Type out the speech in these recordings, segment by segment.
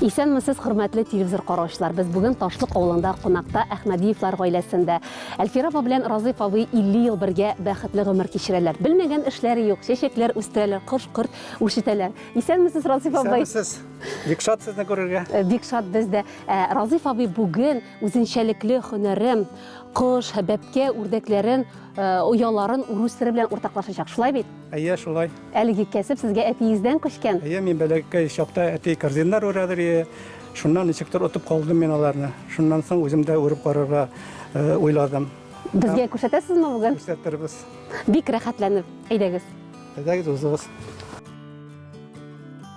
Исәнмесез, хөрмәтле телевизор караучылар! Без бүген Ташлык авылында кунакта Әхмәдиевлар гаиләсендә. Әлфир апа белән Разыйф абый 50 ел бергә бәхетле гомер кичерәләр. Белмәгән эшләре юк, чәчәкләр үстерәләр, кош-корт үрчетәләр. Исәнмесез, Разыйф абый! Исәнмесез! Бик шат сезне күрергә. Э, бик шат без дә. Э, Разыйф абый бүген үзенчәлекле һөнәрем, кош, бәпкә үрдәкләрен Э, ояларын урыс теле белән уртаклашачак шулай бит әйе шулай әлеге кәсеп сезгә әтиегездән күчкән әйе мин бәләкәй чакта әти корзиннар үрәдер ие шуннан ничектер отып калдым мин аларны шуннан соң үзем дә үреп карарга э, уйладым безгә күрсәтәсезме бүген күрсәтербез бик рәхәтләнеп әйдәгез әйдәгез узыгыз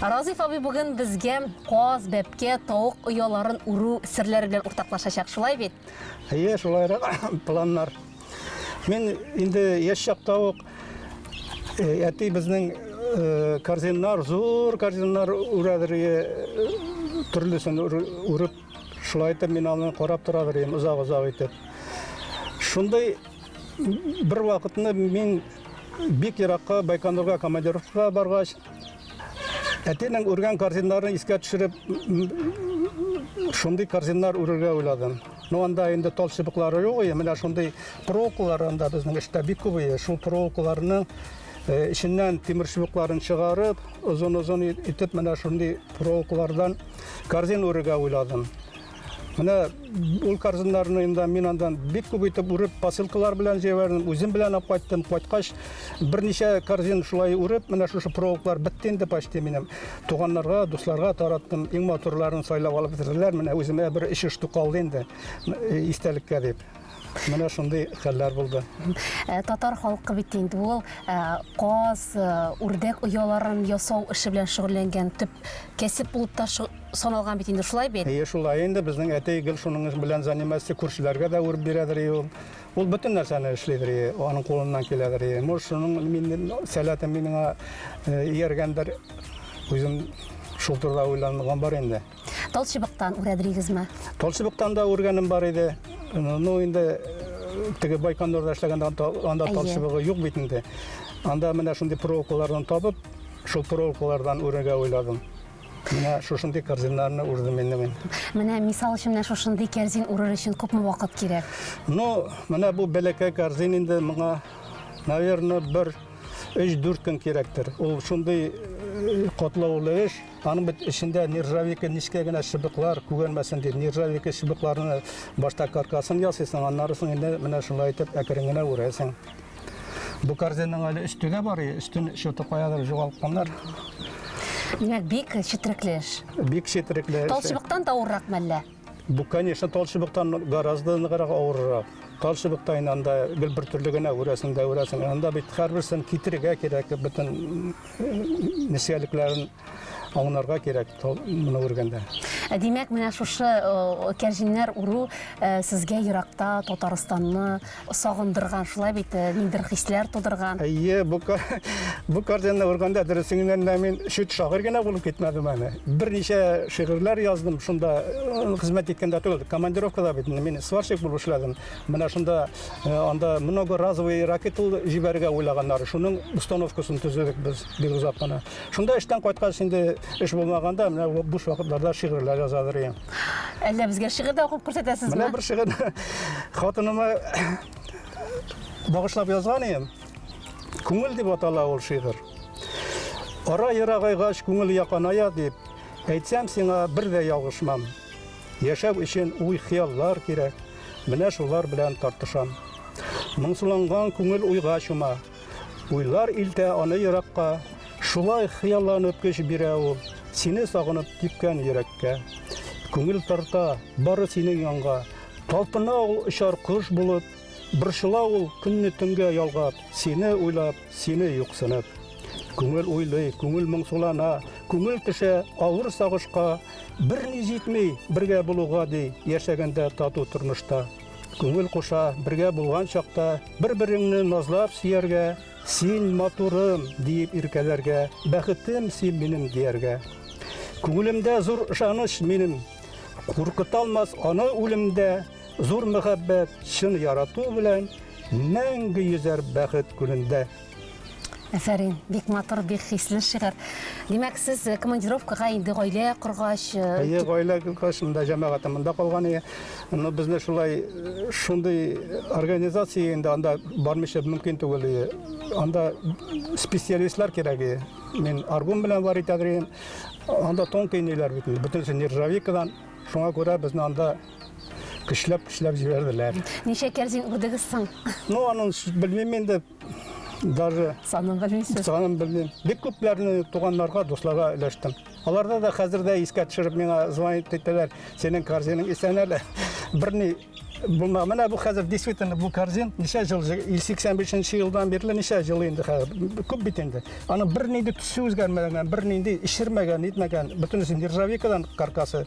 Разиф абый бүген безгә каз, бәпкә, тавык ояларын үрү серләре белән уртаклашачак, шулай бит? Әйе, шулайрак планнар. Мин инде яшь чакта ук э, әти безнең э, корзиннар, зур корзиннар үрәдер э, төрлесен үреп, шулай итеп мин аны карап торадыр идем озак-озак итеп. Шундый бер вакытны мин бик еракка Байконурга командировкага баргач, Әтинең үргән корзиннарын искә төшереп, шундый корзиннар үрергә уйладым. Ну, анда инде тал чыбыклары юк, и менә шундый проволокалар анда безнең эштә бик күп ие. Шул проволокаларның э, эченнән тимер чыбыкларын чыгарып, озын-озын итеп менә шундый проволокалардан корзин үрергә уйладым. Менә ул корзиннарны инде мин андан бик күп итеп үреп, посылкалар белән җибәрдем, үзем белән алып кайттым. Кайткач, берничә корзин шулай үреп, менә шушы провоклар бетте инде почти минем. Туганнарга, дусларга тараттым. Иң матурларын сайлап алып бетерделәр. Менә үземә бер эчеш калды инде, истәлеккә дип. Менә шундый хәлләр булды. Э, татар халкы бит инде ул э, каз, э, үрдәк ояларын ясау эше белән шөгыльләнгән төп кәсеп булып та саналган бит инде, шулай бит? Әйе, шулай инде. Безнең әти гел шуның белән заниматься, күршеләргә дә үреп бирәдер ул. Ул бөтен нәрсәне эшлидер, аның кулыннан киләдер. Может, шуның мин сәләте миңа ияргәндер. Үзем шул турыда уйланган бар инде. Талчыбыктан үрәдерегезме? Талчыбыктан да үргәнем бар иде. Ну инде э, теге Байконурда эшләгәндә анда талчыбыгы юк бит инде. Анда менә шундый проволокалардан табып, шул проволокалардан үрергә уйладым. Менә шушындый корзиннарны үрдем инде мин. Менә мисал өчен менә шушындый корзин үрер өчен күпме вакыт кирәк? Ну, менә бу бәләкәй корзин инде моңа, наверное, бер 3-4 көн кирәктер. Ул шундый э, котлаулы эш. Аның бит эчендә нержавейка, нечкә генә чыбыклар күгәрмәсен дип, нержавейка чыбыкларны башта каркасын ясыйсың, аннары соң инде менә шулай итеп әкрен генә үрәсең. Бу корзинның әле өсте дә бар, өстен чуты каядыр югалтканнар. Димәк, бик четерекле эш. Бик четерекле эш. Талчыбыктан да авырракмы әллә? Бу, конечно, тал чыбыктан гораздо ныграк авыррак. Тал чыбыкта инде анда гел бер төрле генә үрәсең дә үрәсең. Анда бит һәрберсен китерергә кирәк, бөтен нечкәлекләрен аңнарга кирәк тал моны үргәндә. Ә димәк, менә шушы кәрҗиннәр уру сезгә еракта Татарстанны сагындырган, шулай бит, э, ниндер хисләр тудырган. Әйе, бу бу картинаны күргәндә дөресеннән дә мин шит шагыйрь генә булып китмәдем әле. Берничә шигырьләр яздым, шунда э, хезмәт иткәндә түгел, командировкада бит мин сварщик булып эшләдем. Менә шунда э, анда многоразовый ракетал җибәрергә уйлаганнар. Шуның установкасын төзедек без бик озак кына. Шунда эштән кайткач инде эш булмаганда, менә буш вакытларда шигырьләр яза идем. Әллә безгә шигырь дә укып күрсәтәсезме? Менә бер шигырь хатыныма багышлап язган идем. Күңел дип атала ул шигырь. Ара ерагайгач күңел яканая дип, әйтсәм сиңа бер дә ялгышмам. Яшәү өчен уй хыяллар кирәк. Менә шулар белән тартышам. Моңсуланган күңел уйга чума. Уйлар илтә аны еракка, Шулай хыялланып көч бирә ул, Сине сагынып типкән йөрәккә. Күңел тарта бары синең янга, Талпына ул очар кош булып, Борчыла ул көнне төнгә ялгап, Сине уйлап, сине юксынып. Күңел уйлый, күңел моңсулана, Күңел төшә авыр сагышка, Берни җитми бергә булуга, ди, Яшәгәндә тату тормышта. Күңел куша, бергә булган чакта, бер-береңне назлап сөяргә, син матурым диеп иркәләргә, бәхетем син минем дияргә. Күңелемдә зур ышаныч минем, куркыталмас аны үлемдә, зур мәхәббәт, чын ярату белән мәңге йөзәр бәхет күлендә. Әфәрин, бик матур, бик хисле шигырь. Димәк, сез э, командировкага инде гаилә коргач, э, Әйе, гаилә кылгач, монда җәмәгатем монда калган ие. Но безне шулай э, шундый организация инде анда бармыйча мөмкин түгел ие. Анда специалистлар кирәк ие. Мин аргум белән бар итәдерим. Анда тон кейниләр бит. инде, Бөтенесе нержавейкадан. Шуңа күрә безне анда көчләп-көчләп җибәрделәр. ничә кәрзин үрдегез соң? Ну, аның ш- белмим инде, Даже санын белмисез. Санын белмим. Бик күпләрне туганнарга, дусларга өләштем. Аларда да хәзер дә искә төшереп миңа звонит итәләр. Синең корзинаң исән әле. Берни булмаган. Менә бу хәзер действительно бу корзин ничә ел 85 елдан бирле ничә ел инде хәзер. Күп бит инде. Аны бернинди төсе үзгәрмәгән, бернинди эчермәгән, итмәгән. Бөтенесе нержавейкадан каркасы.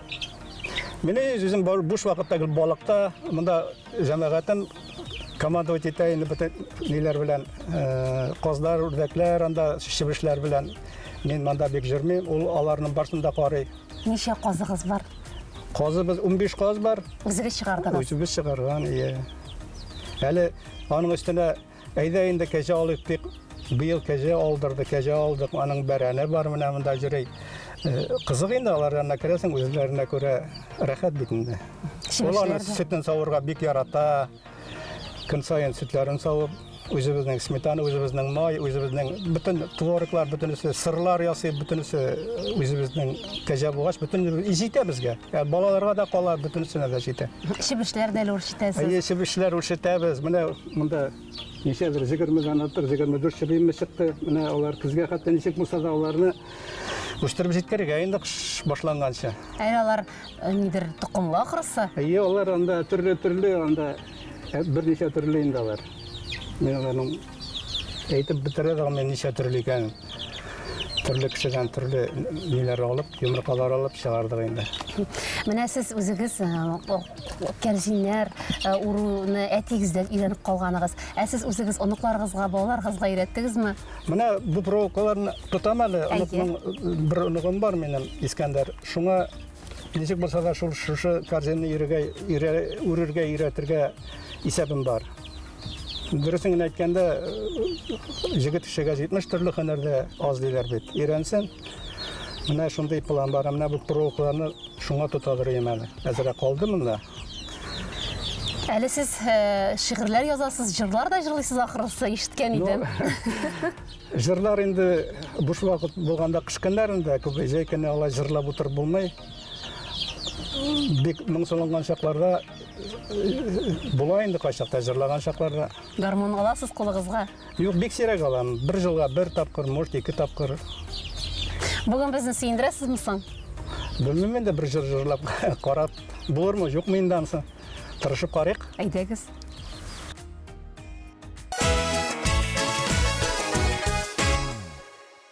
Мин үзем буш вакытта гел балыкта, монда җәмәгатем командовать итә инде бөтен ниләр белән, э, казлар, үрдәкләр, анда чебешләр белән. Мин монда бик җөрмим, ул аларның барсын да карый. Ничә казыгыз бар? Казыбыз 15 каз бар. Үзегез чыгардыгыз? Үзебез чыгарган, ие. Әле аның өстенә Әйдә инде кәҗә алыйк дип, быел кәҗә алдырды, кәҗә алдык, аның бәрәне бар, менә монда җөрей. Э, кызык инде алар янына керәсең, үзләренә күрә рәхәт бит инде. Ул аны сөтен савырга бик ярата. Көн саен сөтләрен савып, үзебезнең сметана, үзебезнең май, үзебезнең бөтен твороглар, бөтенесе сырлар ясый, бөтенесе үзебезнең кәҗә булгач, бөтен җитә безгә. Ә балаларга да кала, бөтенесенә дә җитә. Чебешләр дә үрчетәсез. Әйе, чебешләр үрчетәбез. Менә Монда ничәдер 20 дән артык, 24 чебиемне чыкты. Менә алар көзгә хәтта ничек булса да аларны үстереп җиткерергә инде кыш башланганча. Әле алар э, нидер токымлы ахрысы. Әйе, алар анда төрле-төрле, анда э, берничә төрле инде алар. Мин аларның әйтеп бетерә дә алмыйм ничә төрле икәнен. Төрле кешедән төрле ниләр алып, йомыркалар алып чыгардык инде. Менә сез үзегез э, Кәрҗиннәр уруны әтигездән өйрәнеп калганыгыз. Ә сез үзегез оныкларыгызга, балаларыгызга өйрәттегезме? Менә бу проволокаларны тотам әле. Оныкның бер оныгым бар минем, Искәндәр. Шуңа ничек булса да шул шушы корзинны үрергә өйрәтергә исәбем бар. Дөресен генә әйткәндә, җегет кешегә 70 төрле һөнәр дә аз диләр бит. Өйрәнсен. Менә шундый план бар. Менә бу проволокаларны шуңа тотадыр өем әле. Әзрәк калды монда. Әле сез э, шигырьләр язасыз, җырлар да җырлыйсыз ахрысы, ишеткән идем. Җырлар инде буш вакыт булганда кыш көннәрендә күп җәй көне алай җырлап утырып булмый. Бик моңсуланган чакларда була инде кайчакта җырлаган чакларда. Гармун аласыз кулыгызга? Юк, бик сирәк алам. Бер җылга бер тапкыр, может, ике тапкыр. Бүген безне сөендерәсезме соң? Белмим инде бер җыр җырлап карап булырмы, юкмы инде ансы. Тырышып карыйк. Әйдәгез.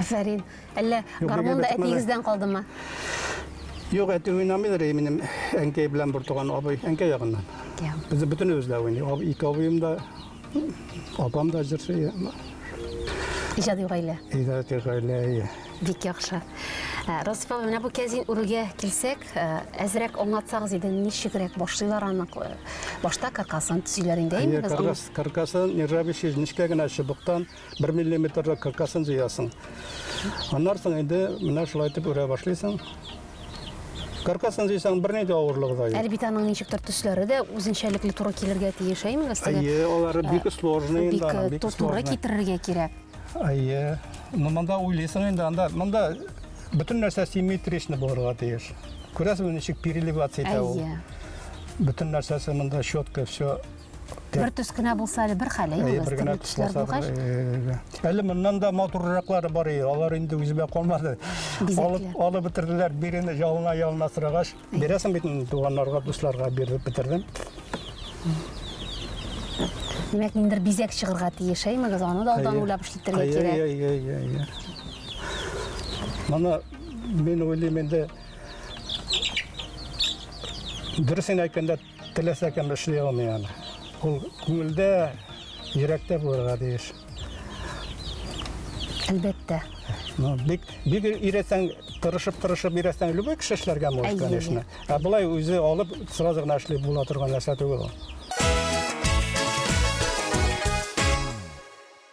Афәрин. Әллә гармон да әтиегездән калдымы? Юк, әти уйнамыйдыр и минем әнкәй белән бер туган абый, әнкәй ягыннан. Без бөтен үзләр уйный. Ике абыем да Апам да җырчы. Иҗади гаилә. Иҗади гаилә. Бик яхшы. Э, Расифа, менә бу кәзин үрүгә килсәк, э, әзрәк аңлатсагыз иде, ничегрәк башлыйлар аны? Э, башта каркасын төзиләр инде, әйме без? Каркасын нержавеющий нечкә генә чыбыктан Бер миллиметрлы кыркасын җыясың. Аннан соң инде менә шулай итеп үрә башлыйсың. Каркасын җыйсаң, берни дә авырлыгы да юк. Әле бит аның ничектер төсләре дә үзенчәлекле туры килергә тиеш, әйме, Гастәгә? Әйе, алары бик э, сложный инде аның, бик сложный. Туры китерергә кирәк. Әйе. Ну, монда уйлыйсың инде, анда, монда бөтен нәрсә симметричны булырга тиеш. Күрәсең, ничек переливаться итә ул. Әйе. Бөтен нәрсәсе монда четко, все бер төс кенә булса әле бер хәл әйе э, бер генә төсләр булгач э, әле моннан да матурраклары бар иде алар инде үземә калмады алып алып бетерделәр бирене ялына ялына сорагач бирәсең бит туганнарга дусларга биреп бетердем димәк ниндидер бизәк чыгарга тиеш әймегез аны да алдан уйлап эшләтергә кирәк әйе әйе әйе моны мин уйлыйм инде дөресен әйткәндә Теләсә кем эшли алмый аны. Ул күңелдә, йөрәктә булырга тиеш. Әлбәттә. Ну, бик бик өйрәтсәң, тырышып-тырышып өйрәтсәң, любой кеше эшләргә может, конечно. Ә болай үзе алып, сразу гына эшли була торган нәрсә түгел ул.